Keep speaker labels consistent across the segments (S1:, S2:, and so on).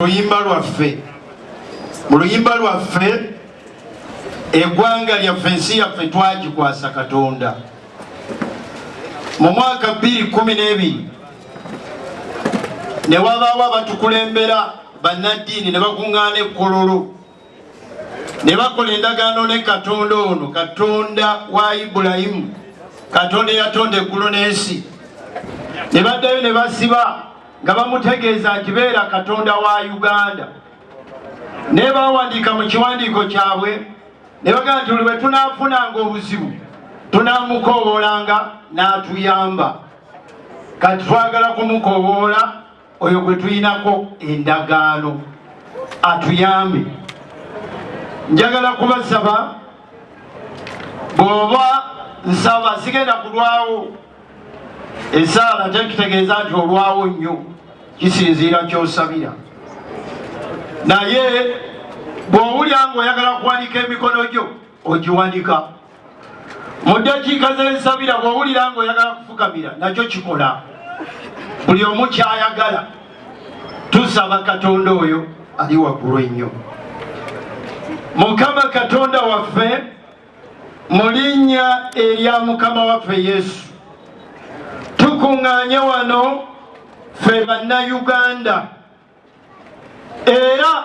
S1: luyimba lwaffe mu luyimba lwaffe egwanga lyaffe ensi yaffe twagikwasa katonda mu mwaka 212 ne wabaawo abatukulembera bannaddiini ne bakuŋŋaana ekkololo ne bakola endagaano ne katonda ono katonda wa ibulayimu katonda eyatonda eggulu n'ensi ne baddayo ne basiba nga bamutegeeza nti beera katonda wa uganda naye bawandiika mu kiwandiiko kyabwe ne bagamba nti buli bwe tunaafunanga obuzibu tunamukooboolanga n'atuyamba kati twagala kumukoboola oyo gwe tuyinako endagaano atuyambe njagala kubasaba bwoba nsaba sigenda kulwawo esaala tekitegeeza nti olwawo nnyo kisinziira kyosabira naye bw'owulya ng'oyagala kuwanika emikono gyo ogiwanika mu ddakiika z'ensabira bw'owulira ng'oyagala kufukamira nakyo kikola buli omu ky'ayagala tusaba katonda oyo ali waggulu ennyo mukama katonda waffe mu linnya erya mukama waffe yesu tukuŋŋaanye wano ffe bannayuganda era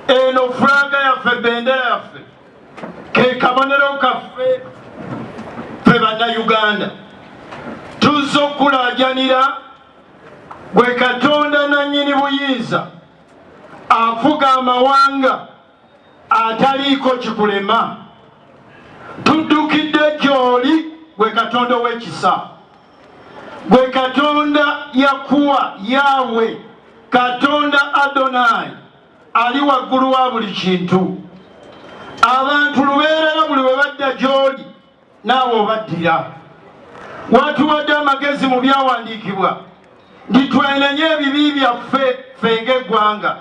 S1: eno fulaga yaffe bendera yaffe kekabonero kaffe fe bannayuganda tuzza okukulajanira gwe katonda nannyini buyinza afuga amawanga ataliiko kikulema tuddukidde gy'oli gwe katonda ow'ekisa gwe katonda yakuwa yaawe katonda adonai ali waggulu wa buli kintu abantu lubeerera buli we badda gy'oli naawe obaddira. Watuwadde amagezi mu byawandiikibwa nti twenenye ebibi byaffe ffe ng'eggwanga.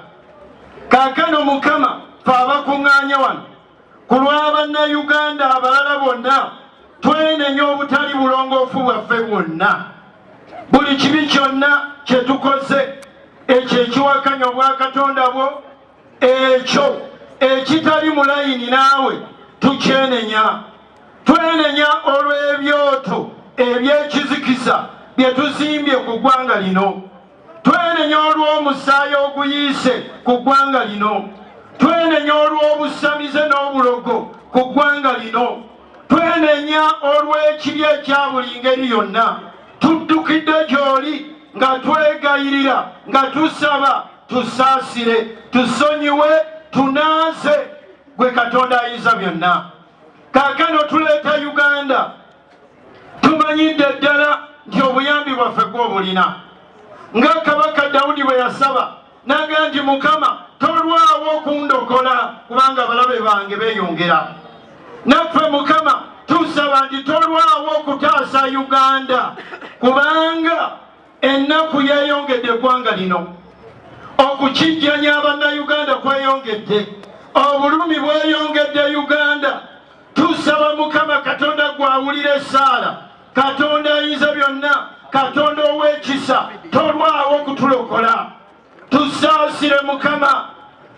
S1: Kaakano Mukama ffe abakuŋŋaanye wano ku lwa Bannayuganda abalala bonna twenenye obutali bulongoofu bwaffe bwonna, buli kibi kyonna kye tukoze ekyo ekiwakanya obwakatonda bwo ekyo ekitali mu layini naawe tukyenenya twenenya olw'ebyoto eby'ekizikiza bye tuzimbye ku ggwanga lino twenenya olw'omusaayi oguyiise ku ggwanga lino twenenya olw'obusamize n'obulogo ku ggwanga lino twenenya olw'ekibi ekya buli ngeri yonna tuddukidde gy'oli nga twegayirira nga tusaba tusaasire tusonyiwe tunaaze gwe katonda ayinza byonna kaakano tuleeta uganda tumanyidde ddala nti obuyambi bwaffe gwobulina nga kabaka dawudi bwe yasaba naga nti mukama tolwawo okundokola kubanga abalabe bange beyongera naffe mukama tusaba nti tolwawo okutaasa uganda kubanga Ennaku yeeyongedde eggwanga lino okukijjanya abannayuganda kweyongedde obulumi bweyongedde uganda tusaba mukama katonda gwawulira esaala katonda ayinza byonna katonda ow'ekisa tolwawo okutulokola tusaasire mukama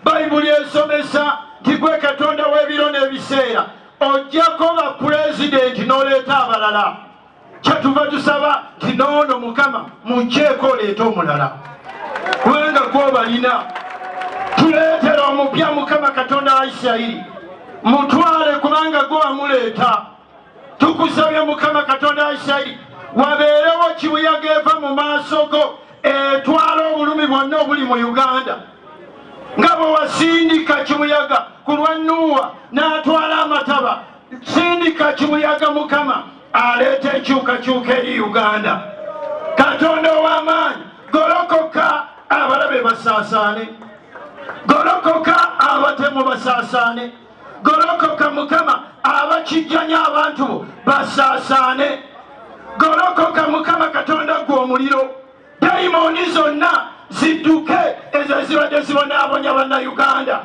S1: bayibuli esomesa nti gwe katonda w'ebiro n'ebiseera ojjako bapulezidenti n'oleeta abalala kyetuva tusaba nti noono mukama mujeeko oleeta omulala kubanga gwobalina tuleetera omupya mukama katonda wa isirayiri mutwale kubanga gwe wamuleeta tukusabye mukama katonda wa isirayiri wabeerewo kibuyaga eva mu maaso go etwala obulumi bwonna obuli mu uganda nga bwe wasindika kibuyaga ku lwa nuuwa n'atwala amataba sindika kibuyaga mukama aleeta enkyukakyuka eri uganda katonda ow'amaanyi golokoka abalabe basaasaane golokoka abatemu basaasaane golokoka mukama abakijjanya abantu bo basaasaane golokoka mukama katonda gwe omuliro dayimondi zonna zidduke ezo ezibadde zibonaabonya bannayuganda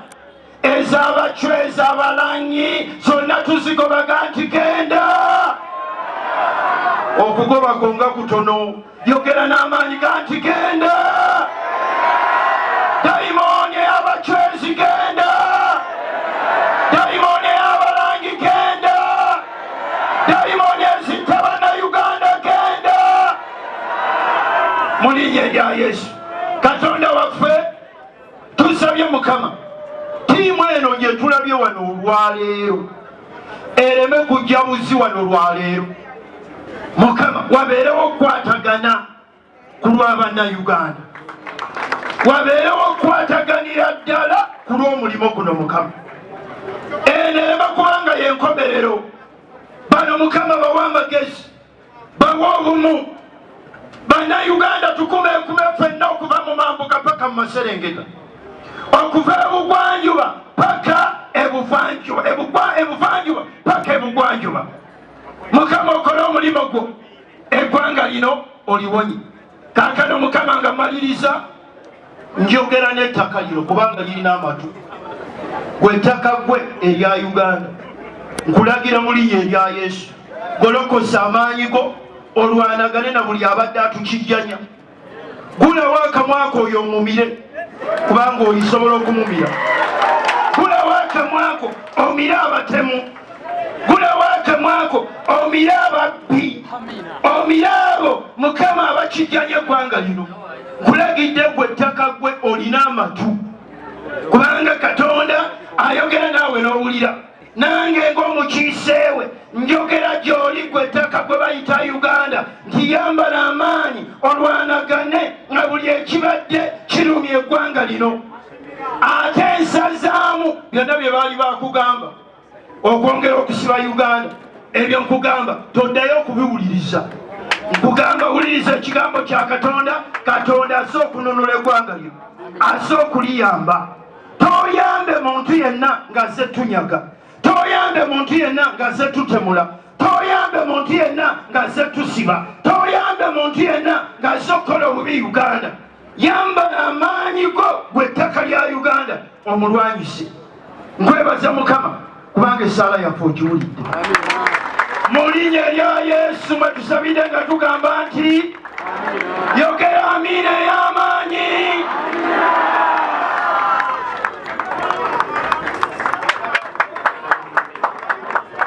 S1: ezabacwa ezabalanyi zonna tuzigobaga nti genda okugobako nga kutono yogera n'amaanyi ga nti genda dayimooni eyabacwezi genda dayimooni eyabalangi genda dayimooni mu linnya erya yesu katonda waffe tusabye mukama tiimu eno gye tulabye wano olwaleero ereme kujja buzi wano olwaleero mukama wabeerewo okukwatagana ku lwabannayuganda wabeerewo okukwataganira ddala ku lw'omulimu guno mukama eno ereme kubanga yenkomerero bano mukama bawa amagezi bawa obumu bannayuganda tukumekume fenna okuva mu mambuka paka mu maserengeta okuva ebugwanjuba paka ebuvanjuba ebuvanjuba paka ebugwanjuba mukama okole omulimu gwo eggwanga lino oliwonyi kaakano mukama nga maliriza njogera n'ettaka lino kubanga lirina amatu gwettaka gwe erya uganda nkulagira mulinya erya yesu golokosa amaanyi go olwanagane na buli abadde atukijjanya gulawo akamwako oyo omumire kubanga oyisobola okumumira gulawo akamwako omire abatemu gulawo akamwako omire ababbi omire abo mukama abakijjanya eggwanga lino kulagidde gwe ettaka gwe olina amatu kubanga katonda ayogera naawe n'owulira nange ng'omukiiseewe njogera gy'oli gwe ettaka gwe bayita uganda nti yambala amaanyi olwanagane nga buli ekibadde kirumya eggwanga lino ate nsazaamu byonna bye baali bakugamba okwongera okusiba uganda ebyo nkugamba toddayo okubiwuliriza nkugamba wuliriza ekigambo kya katonda katonda aze okununula eggwanga lyo aze okuliyamba toyambe muntu yenna ngaze tunyaga toyambe muntu yenna ngaze tutemula toyambe muntu yenna ngaze tusiba toyambe muntu yenna ngaze okukola obubi uganda yambala amaanyi go gwe ettaka lya uganda omulwanyise nkwebaza mukama kubanga esaala yaffe ogiwulidde mu linya erya yesu mwetusabide nga tugamba nti yogera amiina ey'amaanyi